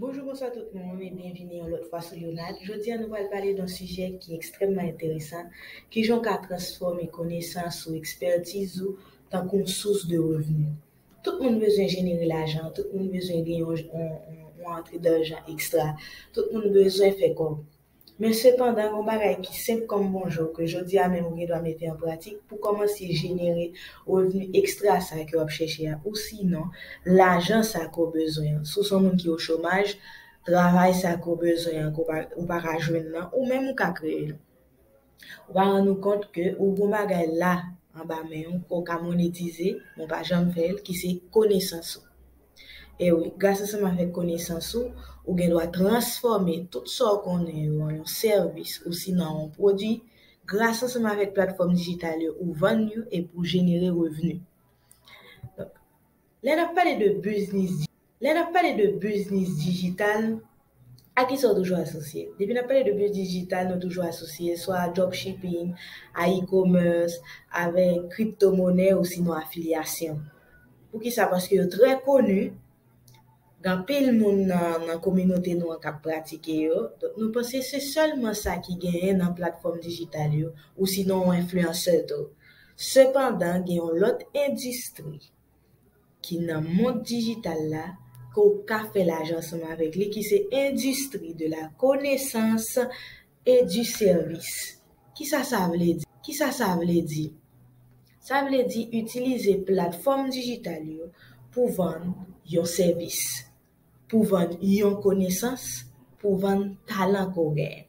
Bonjou bonswa tout moun e byenvini yon lòt fwa sou Leonard. Jodi a nou pral pale d'un sijè ki ekstrèmman enteresan, kijan w ka transfòme konesans ou, ekspertiz ou tankou yon sous de revni. Tout moun bezwen jenere lajan, tout moun bezwen gen yon yon antre darjan ekstra, tout moun bezwen fè kòb. Men sepandan yon bagay ki senp kòm bonjò ke jodi a menm ou gen dwa mete an pratik pou kòmanse jenere revni ekstra sa ke w ap chèche a ou sinon lajan sa ke w bezwen an. Si w se yon moun ki o chomaj, travay sa ke w bezwen an ke w pa ka jwenn nan ou menm ou ka kreye l. Ou pa rann ou kont ke ou gon bagay la anba men ou ke w ka monetize, men w pa janm fè l, ki se konesans ou. E wi, gras ansanm avèk konesans ou, ou gen dwa transfòme tout sa w konnen yo an yon sèvis osinon an yon pwodui, gras ansanm avèk platfòm dijital yo ou vann yo epi ou jenere revni. Donk, lè n ap pale de biznis dijital, Lè nap pale de biznis dijital, a kisa ou toujou asosye? Depi nap pale de biznis dijital nou toujou asosye swa a dropshipping, a e-commerce, avèk crypto monè osinon afilyasyon. Poukisa? Paske yo trè koni, gen anpil moun nan kominote nou an kap pratike yo, donk nou panse se sèlman sa ki genyen nan platfòm dijital yo osinon ou enfliyansè tou. Sepandan gen yon lòt endistri ki nan mond dijital la ke w ka fè lajan ansanm avèk li ki se endistri de la konesans e di sèvis. Kisa sa vle di? Kisa sa vle di? Sa vle di itilize platfòm dijital yo pou vann yon sèvis, pou vann yon konesans, pou vann talan ke w genyen.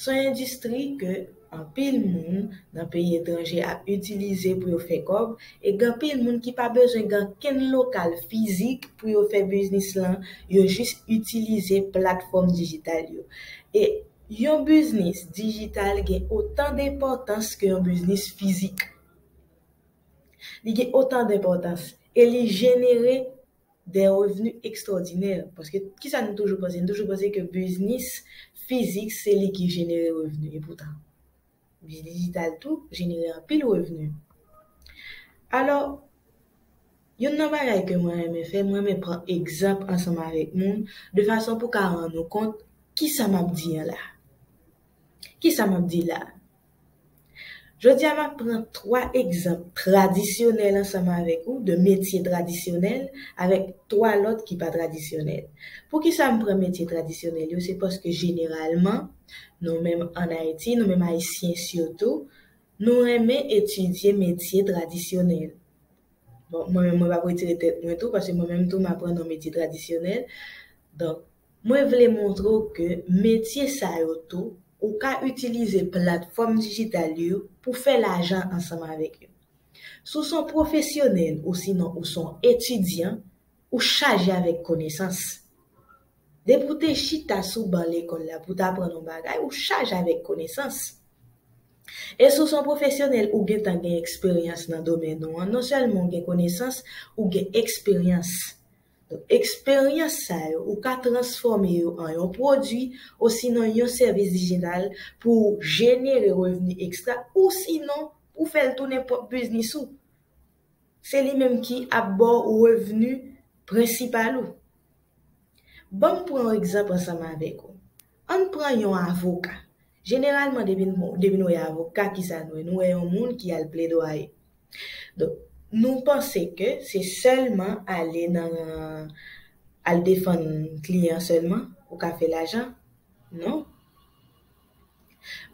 S on endistri ke anpil moun nan peyi etranje ap itilize pou yo fè kòb e gen anpil moun ki pa bezwen gen ankenn lokal fizik pou yo fè biznis lan, yo jis itilize platfòm dijital yo. E yon biznis dijital gen otan denpòtans ke yon biznis fizik. Li gen otan denpòtans e li jenere. dè revni ekstwòdinè, paske kisa nou toujou panse, nou toujou panse ke biznis fizik se li ki jenere revni, epoutan biznis dijital tou jenere anpil revni. Alò, youn nan bagay ke mwen renmen fè, mwen renmen pran egzanp ansanm avèk moun, de fason pou ka rann ou kont kisa m ap di an la. Kisa m ap di la? Jodi a m ap pran 3 egzanp tradisyonèl ansanm avèk ou de metye tradisyonèl avèk 3 lòt ki pa tradisyonèl. Poukisa m pran metye tradisyonèl yo se paske jeneralman nou menm an Ayiti, nou menm Ayisyen sitou, nou renmen etidye metye tradisyonèl. Bon, mwen menm mwen p ap retire tèt mwen tou paske mwen menm tou m aprann yon metye tradisyonèl. Donk. Mwen vle montre w ke metye sa yo tou, ou ka itilize platfòm dijital yo pou fè lajan ansanm avèk yo. Si w s on pwofesyonèl osinon ou s on etidyan, ou chaje avèk konesans. Depi w te chita sou ban lekòl la pou w t aprann on bagay, ou chaje avèk konesans. E si w s on pwofesyonèl, ou gentan gen eksperyans nan domèn ou an, non sèlman ou gen konesans, ou gen eksperyans. Donk, eksperyans sa yo, ou ka transfòme yo an yon pwodui osinon yon sèvis dijital pou w jenere revni ekstra ousinon pou w fè l tounen pwòp biznis ou. Se li menm ki ap ba w revni prensipal ou. Ban m pran yon egzanp ansanm avèk ou. An n pran yon avoka. Jeneralman depi n depi nou wè avoka ki sa nou wè nou wè yon moun ki al pledwaye donk nou panse ke se sèlman ale nan al defann kliyan sèlman ou ka fè lajan non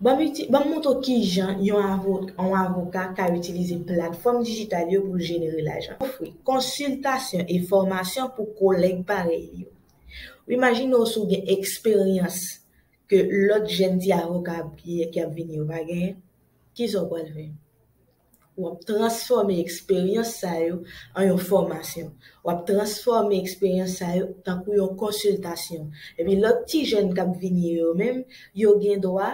banm uti banm montre w kijan yon avo yon avoka ka itilize platfòm dijital yo pou l jenere lajan ofri konsiltasyon e fòmasyon pou kolèg parèy li yo imajine w si w gen eksperyans ke lòt jèn ti avoka ap gen, ki ap vini yo pa genyen, kisa w pral fè? W ap transfòme eksperyans sa yo an yon fòmasyon. W ap transfòme eksperyans sa yo tankou yon konsiltasyon. Epi lòt ti jèn k ap vini yo menm, yo gen dwa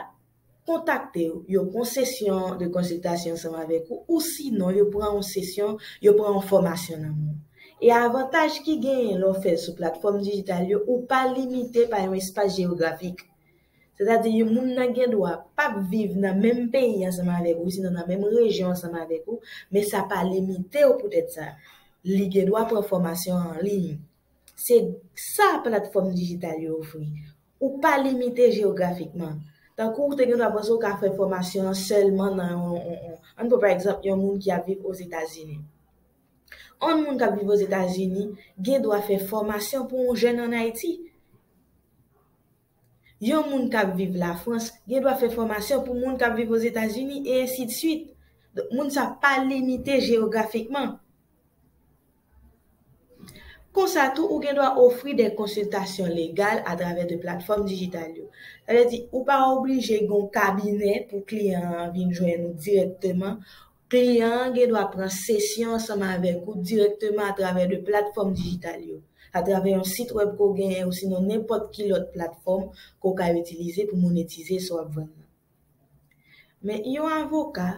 kontakte w, yo pran sesyon de konsiltasyon ansanm avèk ou, ou sinon yo pran yon sesyon, yo pran yon fòmasyon nan men w. E avantaj ki genyen lè w fè l sou platfòm dijital yo, ou pa limite pa yon espas jeyografik. Sètadi yon moun nan gen dwa pap viv nan menm peyi ansanm avèk ou osinon nan menm rejyon ansanm avèk ou, men sa pa limite w poutèt sa. Li gen dwa pran fòmasyon an liy. Se sa platfòm dijital yo ofri. Ou pa limite jeyografikman. Tankou ou te gen dwa panse ou ka fè fòmasyon an sèlman nan yon, ann pran pa egzanp yon moun ki ap viv Ozetazini. On moun kap viv ozetazini gen dwa fè fòmasyon pou on jèn an Ayiti. Yon moun kap viv Lafrans gen dwa fè fòmasyon pou moun kap viv ozetazini e ensi de swit. Donk moun sa pa limite jeyografikman. Konsa tou ou gen dwa ofri de konsiltasyon legal a travè de platfòm dijital yo. Sa vle di ou pa oblije gen on kabinè pou kliyan an vin jwenn ou dirèkteman. Kliyan an gen dwa pran sesyon ansanm avèk ou dirèkteman atravè 2 platfòm dijital yo, atravè yon sit wèb ke w genyen osinon nenpòt ki lòt platfòm ke w ka itilize pou monetize sa w ap vann lan. Men, yon avoka,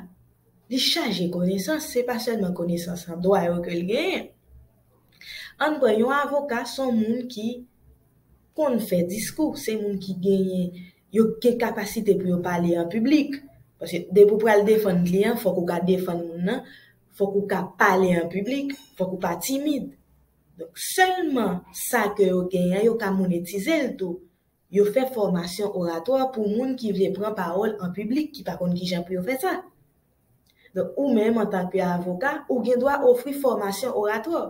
li chaje konesans, se pa sèlman konesans an dwa yo ke l genyen. Ann pran yon avoka se yon moun ki konn fè diskou, se moun ki genyen Yo gen kapasite pou yo pale an piblik. Paske depi ou pral defann kliyan, fòk ou ka defann moun nan, fòk ou ka pale an piblik, fòk ou pa timid. Donk sèlman sa ke yo genyen an yo ka monetize l tou. Yo fè fòmasyon oratwa pou moun ki vle pran pawòl an piblik ki pa konn kijan pou yo fè sa. Donk ou menm antan ke avoka, ou gen dwa ofri fòmasyon oratwa.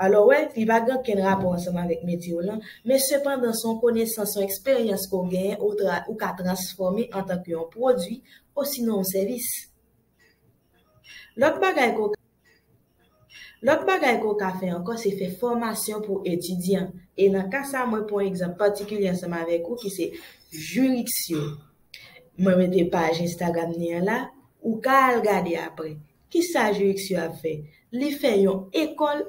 Alò wè, li pa gen okenn rapò ansanm avèk metye w lan, men sepandan se yon konesans, yon eksperyans ke w genyen ou tra, ou ka transfòme antan ke yon pwodui osinon yon sèvis. Lòt bagay ke w ka. Lòt bagay ke w ka fè ankò se fè fòmasyon pou etidyan. E nan ka sa mwen pran yon egzanp patikilye ansanm avèk ou ki se Juriksio. Mwen mete paj Instagram ni an la, ou ka al gade aprè. Ki sa Juriksio ap fè? Li fè yon ekòl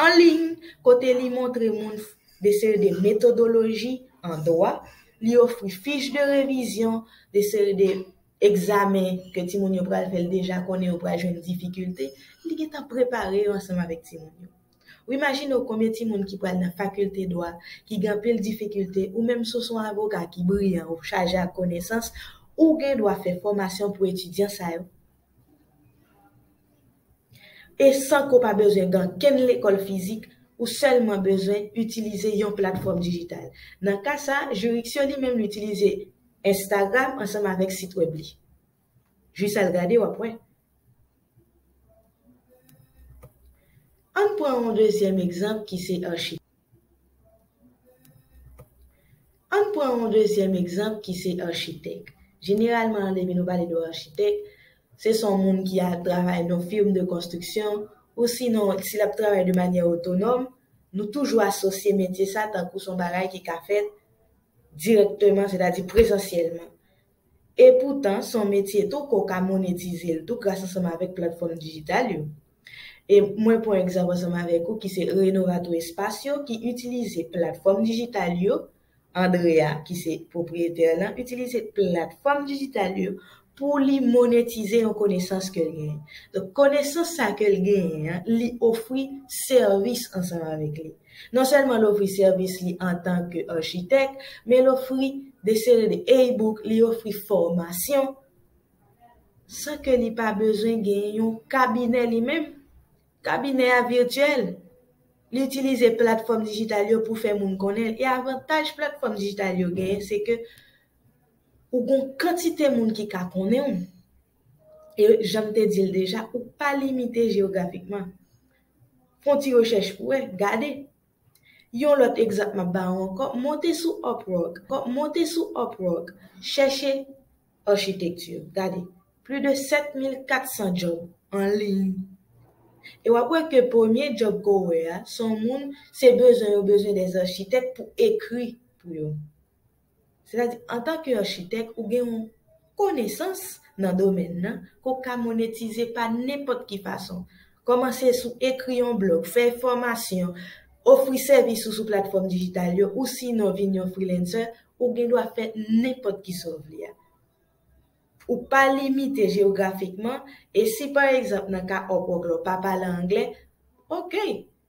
an liy kote li montre moun de seri de metodoloji an dwa, li ofri fich de revizyon, de seri de. Egzamen ke timoun yo pral fè l deja konnen yo pral jwenn difikilte, li gentan prepare yo ansanm avèk timoun yo. Ou imajine w konbyen timoun ki pral nan fakilte dwa ki gen anpil difikilte ou menm si w son avoka ki briyan ou chaje ak konesans, ou gen dwa fè fòmasyon pou etidyan sa yo. E san ke w pa bezwen gen ankenn lekòl fizik, ou sèlman bezwen itilize yon platfòm dijital. Nan ka sa, Juriksyon li menm li itilize Instagram ansanm avèk sit wèb li. Jis al gade w ap wè. Ann pran yon dezyèm egzanp ki se Archive. Ann pran yon dezyèm egzanp ki se architèk. Jeneralman depi nou pale de architèk, se son moun ki al travay nan firm de konstriksyon ou sinon si lap travay de manyè otonòm, nou toujou asosye metye sa tankou son bagay ki ka fèt dirèkteman sètadi prezansyèlman. E poutan, son metye tou ke w ka monetize l tou gras ansanm avèk platfòm dijital yo. E mwen pwan egzanp ansanm avèk ou ki se Renovato Espacio ki itilize platfòm dijital yo, Andrea ki se pwopriyetè lan itilize platfòm dijital yo pou li monetize yon konesans ke l genyen. Donk konesans sa ke l genyen an li ofri sèvis ansanm avèk li. Non sèlman l ofri sèvis li antanke architèk, men l ofri de seri de e-book, li ofri fòmasyon, san ke li pa bezwen gen yon kabinè li menm. Kabinè a virtyèl. Li itilize platfòm dijital yo pou fè moun konnen l. E avantaj platfòm dijital yo genyen se ke ou gon kantite moun ki ka konnen w. E jan m te di l deja, ou pa limite jeyografikman. Fè yon ti rechèch pou wè, gade. Yon lòt egzanp m ap ba ou ankò, monte sou Upwork, monte sou Upwork, chèche Architecture, gade, plus de 7400 djòb an liy. E w ap wè ke premye djòb ke w wè a, se yon moun, se bezwen yo bezwen des architectes pou ekri pou yo. Sètadi, antanke achitèk, ou gen yon konesans nan domèn nan ke w ka monetize pa nenpòt ki fason. Kòmanse sou ekri yon blòg, fè fòmasyon, ofri sèvis ou sou platfòm dijital yo ousinon vin yon freelancer, ou gen dwa fè nenpòt ki sa w vle a. Ou pa limite jeyografikman e si pa egzanp nan ka Upwork la w pa pale angle, ok!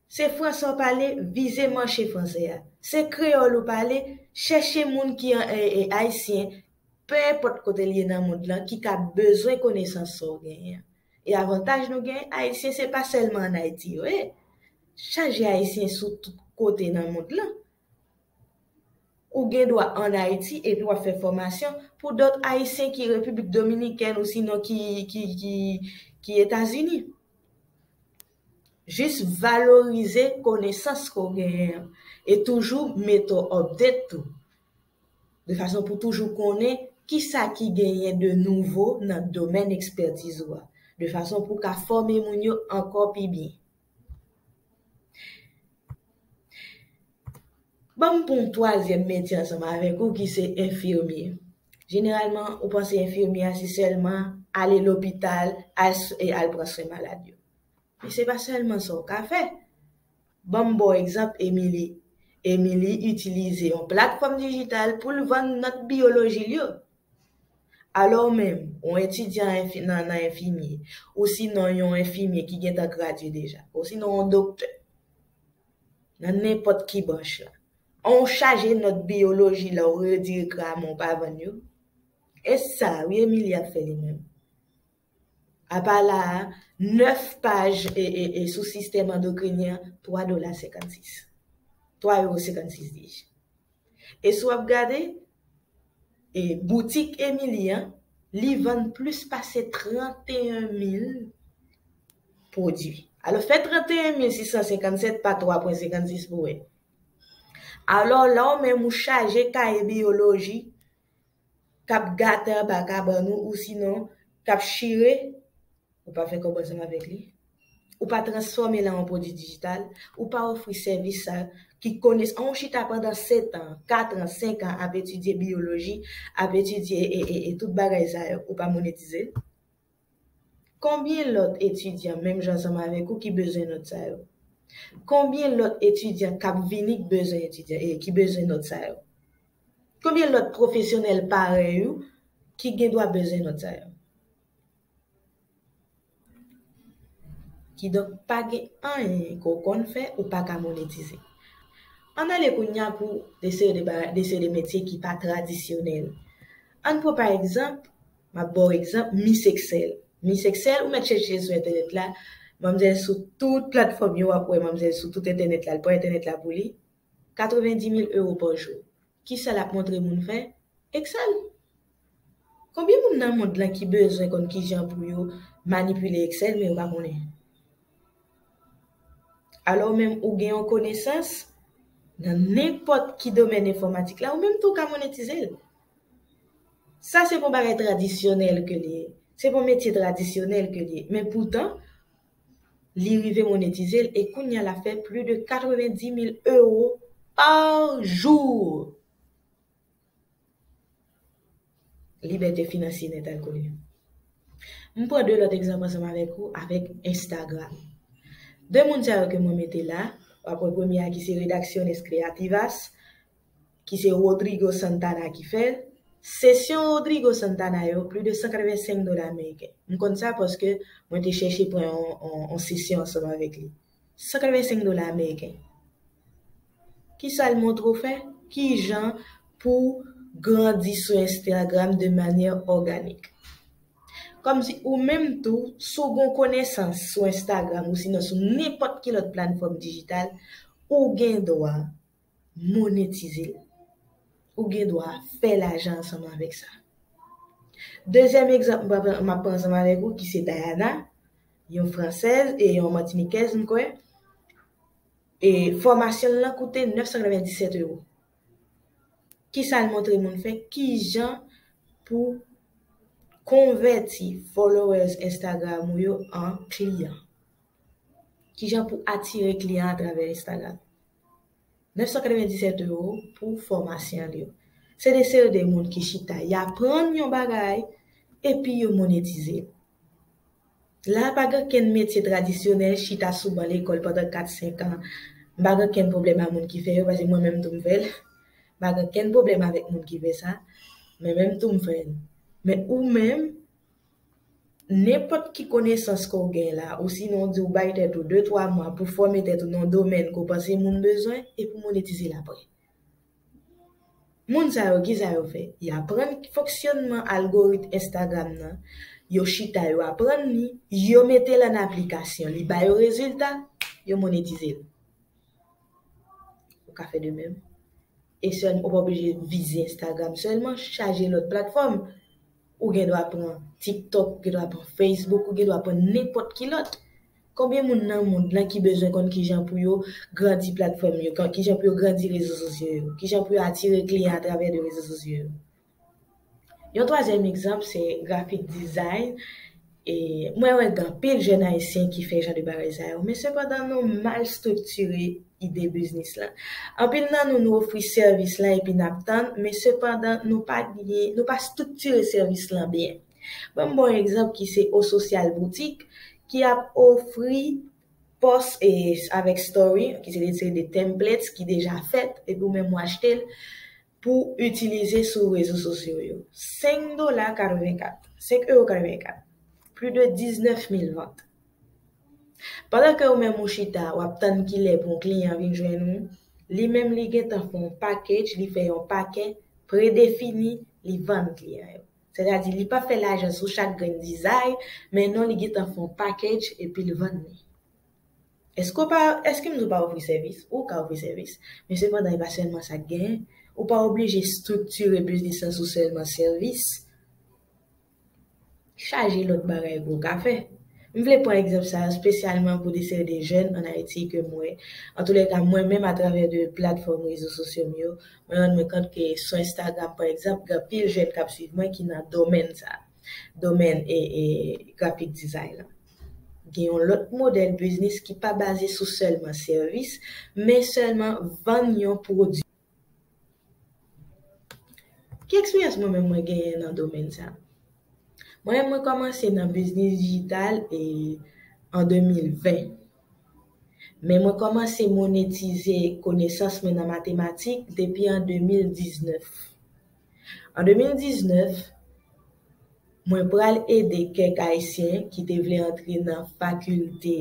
Se fransè w pale, vize manche fransè a. Se kreyòl ou pale, chèche moun ki an ee ayisyen, pe enpòt kote l ye nan mond lan ki ka bezwen konesans sa w genyen an. E avantaj nou genyen, ayisyen se pa sèlman an Ayiti yo ye. Chaje ayisyen sou tout kote nan mond lan. Ou gen dwa an Ayiti epi w ap fè fòmasyon pou dòt ayisyen ki Repiblik Dominikèn ou sinon ki Etazini. Jis valorize konesans ke w genyen an e toujou mete w update tou. De fason pou w toujou konnen kisa ki genyen de nouvo nan domèn ekspètiz ou a. De fason pou w ka fòme moun yo ankò pi byen. Ban m pou m twazyèm metye ansanm avèk ou ki se enfimye. Jeneralman, ou panse enfimye a se sèlman ale lopital, al e al pran swen malad yo. Men se pa sèlman sa ou ka fè. Ban m ba w egzanp Emily. Emily itilize yon platfòm dijital pou l vann nòt biyoloji l yo. Alò ou menm, yon etidyan enfi nan nan enfimye, osinon yon enfimye ki gentan gradye deja, osinon yon doktè, nan nenpòt ki branch la. An ou chaje nòt biyoloji la ou redire kra men ou pa vann yo? E sa wi Emili ap fè li menm. Apa la a, 9 paj sou sistèm andokrinyen, 3 dola 56. 3 euro 56 dije. E si w ap gade, e boutik Emili an, li vann plis pase 31 mil pwodui. Alò fè 31 mil 657 pa 3 pwen 56 pou wè. Alò la ou menm ou chaje kaye biyoloji k ap gate anba kabann ou, ou sinon k ap chire. Ou pa fè kòb ansanm avèk li. Ou pa transfòme l an yon pwodui dijital. Ou pa ofri sèvis sa ki kones an ou chita pandan setan, katran, senkan ap etidye biyoloji, ap etidye e tout bagay sa yo, ou pa monetize l. Konbyen lòt etidyan menm jan ansanm avèk ou ki bezwen nòt sa yo? Konbyen lòt etidyan k ap vini k bezwen etidyan e ki bezwen nòt sa yo? Konbyen lòt pwofesyonèl parèy ou ki gendwa bezwen nòt sa yo? Kidonk pa gen anyen ke w konn fè ou pa ka monetize. Ann ale kounye a pou de seri de bagay, de seri de metye ki pa tradisyonèl. Ann pran pa egzanp, m ap ba w egzanp Miss Excel. Miss Excel, ou mèt chèche l sou entènèt la, manmzèl sou tout platfòm yo w ap wè manmzèl sou tout entènèt la, l pran entènèt la pou li, 90 mil ewo pa jou. Kisa lap montre moun fè? Excel! Konbyen moun nan mond lan ki bezwen konn kijan pou yo manipile Excel men yo pa konnen? Alò ou menm ou gen yon konesans nan nenpòt ki domèn enfòmatik la ou menm tou ka monetizel. Sa se pa yon bagay tradisyonèl ke li ye, se pa yon metye tradisyonèl ke li ye men poutan Li rive monetize l e kounya l ap fè plis de 90 mil ewo pa jou! Libète finansye nèt al kole. M pran 2 lòt egzanp ansanm avèk ou avèk Instagram. 2 moun sa yo ke mwen mete la, w ap wè premye a ki se Redacciones Creativas, ki se Rodrigo Santana ki fè l, sesyon Rodrigo Santana yo plis de 185 dola ameriken. M konn sa paske mwen te chèche pran yon sesyon ansanm avèk li. 185 dola ameriken. Kisa l montre w fè? Kijan pou w grandi sou Instagram de manyè òganik? Kòmsi ou menm tou, si w gen yon konesans sou Instagram osinon sou nenpòt ki lòt platfòm dijital, ou gen dwa monetize l. Ou gen dwa fè lajan ansanm avèk sa. Dezyèm egzanp m ap pran ansanm avèk ou ki se Dayana, yon fransèz e yon matinikèz m kwè, e fòmasyon l lan koute 997 ewo. Ki sa l montre moun fè? Ki jan pou konvèti followers Instagram ou yo an kliyan? Ki jan pou atire kliyan atravè Instagram? 997 euro pou fòmasyon l yo. Se de seri de moun ki chita y aprann yon bagay epi yo monetize l. La a pa gen okenn metye tradisyonèl chita sou ban lekòl pandan 4, 5 an. M pa gen okenn pwoblèm a moun ki fè yo paske mwen menm tou m fè l. M pa gen okenn pwoblèm avèk moun ki fè sa, mwen menm tou m fè l. Men ou menm, Nenpòt ki konesans ke w gen la, osinon w di w bay tèt ou de twa mwa pou fòme tèt ou nan yon domèn ke w panse moun bezwen e pou monetize l apre. Moun sa yo, kisa yo fè? Y aprann fonksyònman algorit Instagram nan, yo chita yo aprann li, yo mete l an aplikasyon, li ba yo rezilta, yo monetize l. Ou ka fè de menm. E sèlman, ou pa oblije vize Instagram sèlman, chaje lòt platfòm. Ou gen dwa pran TikTok, ou gen dwa pran Facebook, ou gen dwa pran nenpòt ki lòt. Konbyen moun nan mond lan ki bezwen konn kijan pou yo grandi platfòm yo, kijan pou yo grandi rezo sosyo yo, kijan pou yo atire kliyan atravè de rezo sosyo yo? Yon twazyèm egzanp se grafik design. E mwen wè gen anpil jèn ayisyen ki fè jan de bagay sa yo, men sepandan nou mal striktire ide biznis lan. Anpil nan nou, nou ofri sèvis lan epi nap tann, men sepandan nou pa gen, nou pa striktire sèvis lan byen. Banm ba w egzanp ki se Osocial Boutique ki ap ofri pòs e avèk story, ki se retire de templates ki deja fèt epi ou menm ou achte l, pou itilize sou rezo sosyo yo. 5 dola 84, 5 euro 84, pli de 19 mil vant. Pandan ke ou menm ou chita wap tann kilè pou yon kliyan vin jwenn ou, li menm li gentan fè yon package, li fè yon pake predefini li vann kliyan yo. Sètadi li pa fè lajan sou chak grenn dizay, men non li gentan fè yon package epil vann li. Èske w pa, èske m di w pa ofri sèvis? Ou ka ofri sèvis. Men sepandan e pa sèlman sa k genyen. Ou pa oblije striktire biznis lan sou sèlman sèvis. Chaje lòt bagay ke w ka fè. M vle pran egzanp sa a spesyalman pou de seri de jèn an Ayiti ke m wè, antoulèka mwen menm atravè de platfòm rezo sosyo m yo, mwen rann mwen kont ke sou Instagram pa egzanp gen anpil jèn k ap swiv mwen ki nan domèn sa a, domèn graphic design lan. Gen yon lòt modèl biznis ki pa baze sou sèlman sèvis, men sèlman vann yon pwodui. Ki eksperyans mwen menm mwen genyen nan domèn sa? Mwen menm mwen kòmanse nan biznis dijital e an 2020. Men mwen kòmanse monetize konesans mwen nan matematik depi an 2019. An 2019, mwen pral ede kèk Ayisyen ki te vle antre nan fakilte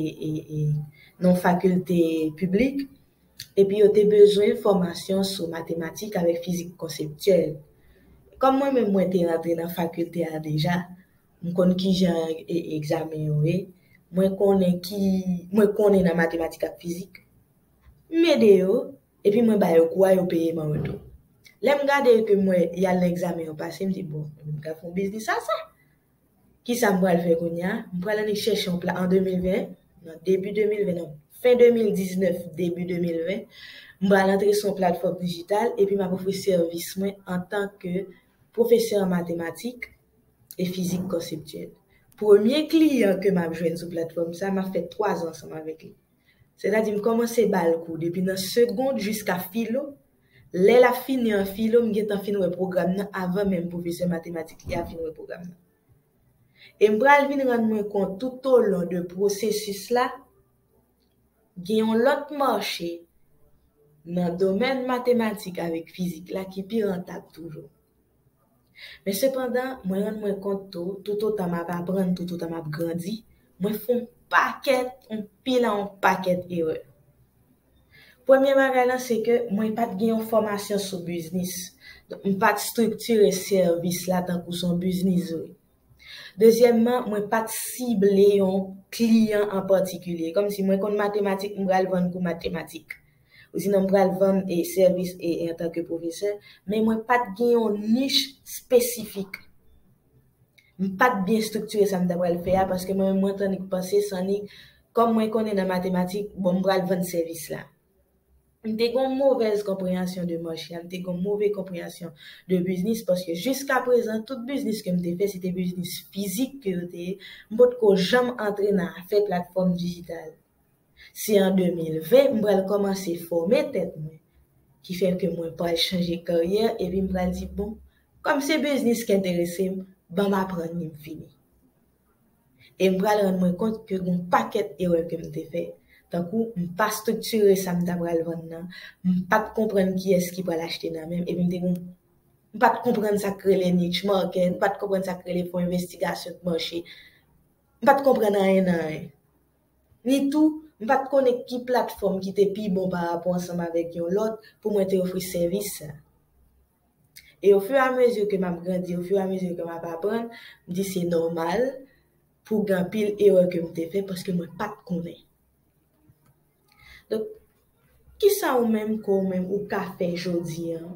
nan fakilte piblik epi yo te bezwen fòmasyon sou matematik avèk fizik konseptyèl. Kòm mwen menm mwen te antre nan fakilte a deja, m konn kijan egzamen yo ye, mwen konnen ki mwen konnen nan matematik ak fizik, m ede yo Epi mwen ba yo kou a yo peye m an retou. Lè m gade yo ke m wè y al nan egzamen yo pase m di bon ebyen m ka fè yon biznis a sa. Kisa m pral fè kounye a? M pral ale chèche yon plas an 2020, nan debi 2020, nan fen 2019 debi 2020, m pral antre sou yon platfòm dijital epi m ap ofri sèvis mwen antan ke pwofesè an matematik e fizik konseptyèl. Premye kliyan ke m ap jwenn sou platfòm sa, m ap fè 3 zan ansanm avèk li. Sètadi m kòmanse ba l kou depi nan segond jiska filo, lè l ap fini an filo m gentan fin wè pwogram nan avan menm pwofesè matematik li a fin wè pwogram nan. E m pral vin rann mwen kont toutolon de pwosesis la, gen yon lòt mache nan domèn matematik avèk fizik la ki pi rantab toujou. Men sepandan, mwen rann mwen kont tou, toutotan m ap aprann, toutotan m ap grandi, mwen fè yon pakèt, yon pil a yon pakèt erè. Premye bagay lan se ke mwen pa t gen yon fòmasyon sou biznis, donk m pa t striktire sèvis la tankou s on biznis vre. Dezyèmman, mwen pa t sible yon kliyan an patikilye, kòmsi mwen konn matematik m pral vann kou matematik. Ou di non m pral vann e sèvis e antanke pwofesè, men mwen pa t gen yon nich spesifik. M pa t byen striktire sa m ta pral fè a paske mwen menm mwen t annik panse s annik kòm mwen konnen nan matematik, bon m pral vann sèvis la. M te gen yon movèz konpreyansyon de mach la, m te gen yon move konpreyansyon de biznis paske jiska prezan tout biznis ke m te fè se te biznis fizik ke yo te ye, m potko janm antre nan afè platfòm dijital. Se an 2020 m pral kòmanse fòme tèt mwen, ki fè ke mwen pral chanje karyè epi m pral di bon, kòm se biznis k enterese m, banm aprann li m fini. E m pral rann mwen kont ke gon pakèt erè ke m te fè, tankou m pa striktire sa m ta pral vann nan, m pa t konprann kiyès ki pral achte nan men m epi m te gon m pa t konprann sa k rele niche market, m pa t konprann sa k rele fon envestigasyon k mache, m pa t konprann anyen nan anyen. Ni tou, m pa t konnen ki platfòm ki te pi bon parapò ansanm avèk yon lòt pou mwen te ofri sèvis sa. E ofiramezi ke m ap grandi, ofiramezi ke m ap aprann, m di se nòmal pou gen anpil erè ke m te fè paske mwen pa t konnen. Donk, kisa ou menm ke ou menm ou ka fè jodi an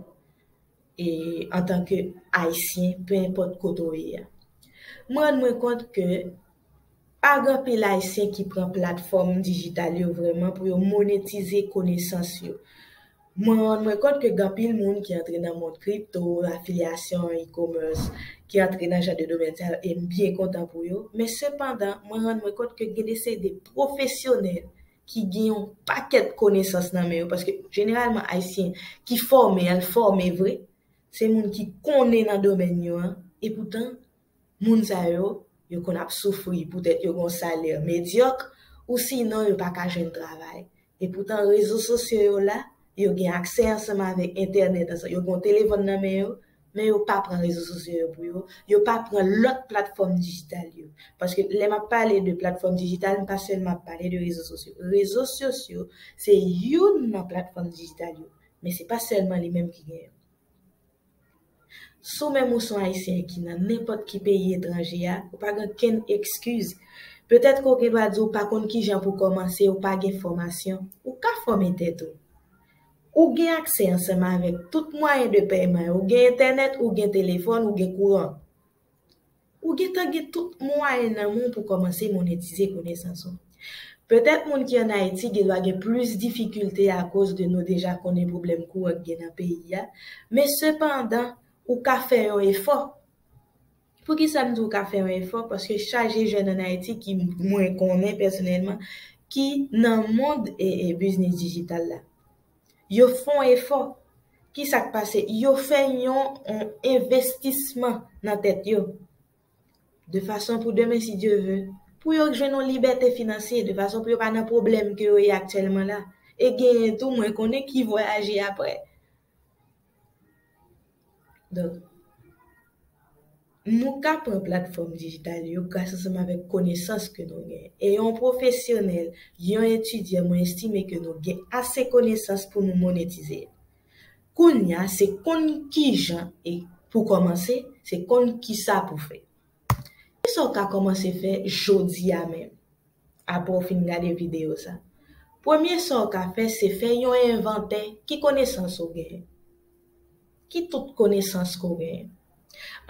e antan ke ayisyen pe enpòt kote w ye a. M rann mwen kont ke pa gen anpil ayisyen ki pran platfòm dijital yo vrèman pou yo monetize konesans yo. Mwen rann mwen kont ke gen anpil moun ki antre nan mond kripto, afilyasyon, e-commerce, ki antre nan jan de domèn sa yo e m byen kontan pou yo, men sepandan mwen rann mwen kont ke gen de seri de pwofesyonèl ki gen yon pakèt konesans nan men yo, paske jeneralman Ayisyen ki fòme, y al fòme vre, se moun ki konnen nan domèn yo an, epoutan, moun sa yo, yo konn ap soufri poutèt yo gen yon salè medyòk, ou sinon yo pa ka jwenn travay. Epoutan, rezo sosyo yo la, yo gen aksè ansanm avèk entènèt, yo gen yon telefòn nan men yo, men yo pa pran rezo sosyo yo pou yo, yo pa pran lòt platfòm dijital yo. Paske lè m ap pale de platfòm dijital, m pa sèlman ap pale de rezo sosyo. Rezo sosyo se youn nan platfòm dijital yo, men se pa sèlman li menm ki gen yo. Si w menm ou son Ayisyen ki nan nenpòt ki peyi etranje a, ou pa gen okenn ekskiz. Petèt ke w gen dwa di w pa konn kijan pou w kòmanse, ou pa gen fòmasyon. Ou ka fòme tèt ou. Ou gen aksè ansanm avèk tout mwayen de pèyman yo, ou gen entènèt, ou gen telefòn, ou gen kouran. Ou gentan gen tout mwayen nan men w pou kòmanse monetize konesans ou. Petèt moun ki an Ayiti gendwa gen plis difikilte akoz de nou deja konnen pwoblèm kouran ki gen nan peyi a, men sepandan ou ka fè yon efò. Poukisa m di w ka fè yon efò? Paske chaje jèn ann Ayiti ki mwen konnen pèsonèlman ki nan mond biznis dijital la. Yo fè yon efò. Ki sa k pase? Yo fè yon envestisman nan tèt yo. De fason pou demen si Dye ve, pou yo jwenn yon libète finansye, de fason pou yo pa nan pwoblèm ke yo ye aktyèlman la. E genyen tou mwen konnen ki vwayaje apre. Donk, nou ka pran platfòm dijital yo gras ansanm avèk konesans ke nou gen. E yon pwofesyonèl, yon etidyan mwen estime ke nou gen ase konesans pou nou monetize. Kounya se konn kijan e pou kòmanse, se konn kisa pou fè. Kisa w ka kòmanse fè jodi a menm, apre w fin gade videyo sa? Premye sa w ka fè se fè yon envantè ki konesans ou genyen. Ki tout konesans ke w genyen?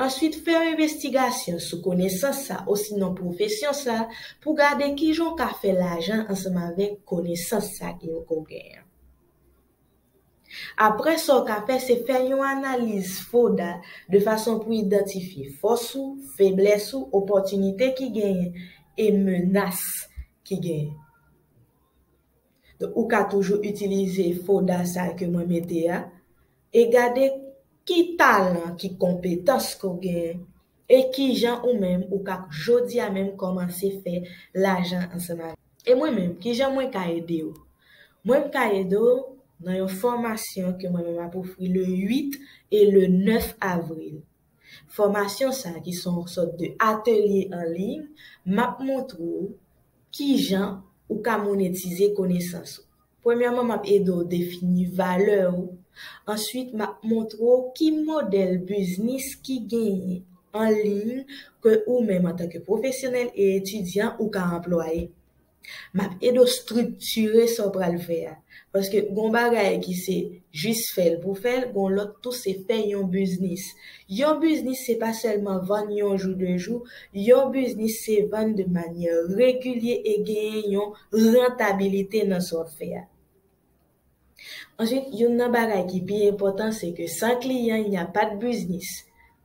Answit fè yon envestigasyon sou konesans sa osinon pwofesyon sa pou w gade kijan w ka fè lajan ansanm avèk konesans sa ke w genyen. Apre sa w ka fè se fè yon analiz FODA de fason pou idantifye fòs ou, feblès ou, opòtinite ki genyen e menas ki genyen. Donk ou ka toujou itilize FODA sa ke mwen mete a e gade ki talan, ki konpetans ke w genyen E kijan ou menm ou ka jodi a menm kòmanse fè lajan ansanm avèk. E mwen menm kijan mwen ka ede ou? Mwen m ka ede w nan yon fòmasyon ke mwen menm map ofri le 8 e le 9 avril. Fòmasyon sa ki son sòt de atelye an liy map montre w kijan ou ka monetize konesans ou. Premyèman m ap ede w defini valè ou, answit m ap montre w ki modèl biznis ki genyen an liy ke ou menm antanke pwofesyonèl e etidyan ou ka anplwaye. M ap ede w striktire sa w pral fè a, paske gon bagay ki se jis fè l pou fè l, gon lòt tou se fè yon biznis. Yon biznis se pa sèlman vann yon jou de jou, yon biznis se vann de manyè regilye e genyen yon. rantabilite nan sa w ap fè a. Answit, youn nan bagay ki pi enpòtan se ke san kliyan il n'y a pas de business.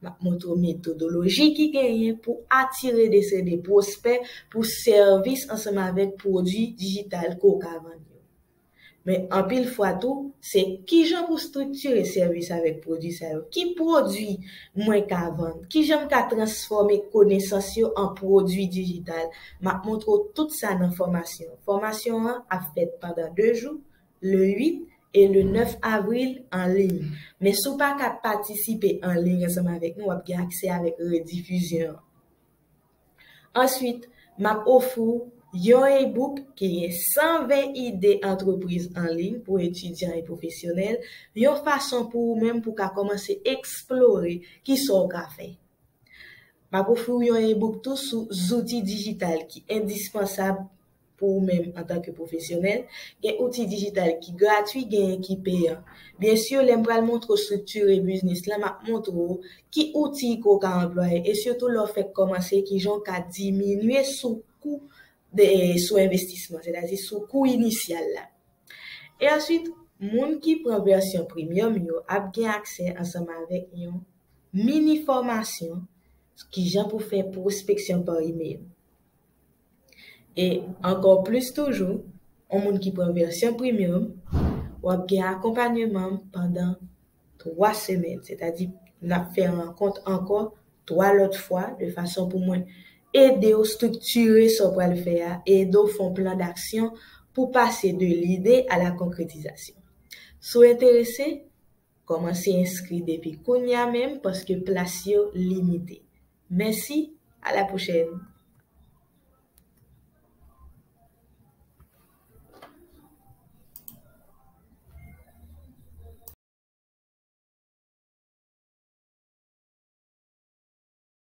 M ap montre w metodoloji ki genyen pou atire de seri de pwospè pou sèvis ansanm avèk pwodwi dijital ke w ka vann yo. Men anpil fwa tou, se kijan pou striktire sèvis avèk pwodui sa yo? Ki pwodui mwen ka vann? Kijan m ka transfòme konesans yo an pwodui dijital? M ap montre w tout sa nan fòmasyon. Fòmasyon an ap fèt pandan 2 jou, le 8 e le 9 avril, an liy. Men si w pa ka patisipe an liy ansanm avèk nou, w ap gen aksè avèk redifizyon an. Answit, m ap ofri w yon e-book ki gen 120 ide antrepriz an liy pou etidyan e pwofesyonèl, yon fason pou ou menm pou w ka kòmanse eksplore ki sa w ka fè. M ap ofri w yon e-book tou sou zouti dijital ki endispansab Pou ou menm antanke pwofesyonèl, gen outi dijital ki gratwi genyen ki peyan. Byen sur lè m pral montre w structure biznis lan map montre w ki outi ke w ka anplwaye e sitou lè w fèk kòmanse kijan w ka diminye sou kou de sou envestisman sètadi sou kou inisyal la. E answit moun ki pran vèsyon premium yo ap gen aksè ansanm avèk yon mini fòmasyon sou kijan pou fè pwospeksyon par email. E ankò plis toujou, yon moun ki pran vèsyon Premium, w ap gen akonpanyeman pandan 3 semèn. Sètadi, n ap fè rankont ankò 3 lòt fwa de fason pou mwen ede w striktire sa w pral fè a e ede w fè yon plan daksyon pou pase de lide a la konkretizasyon. Si w enterese, Kòmanse enskri depi kounya menm paske plas yo limite. Mèsi, a la pwochèn!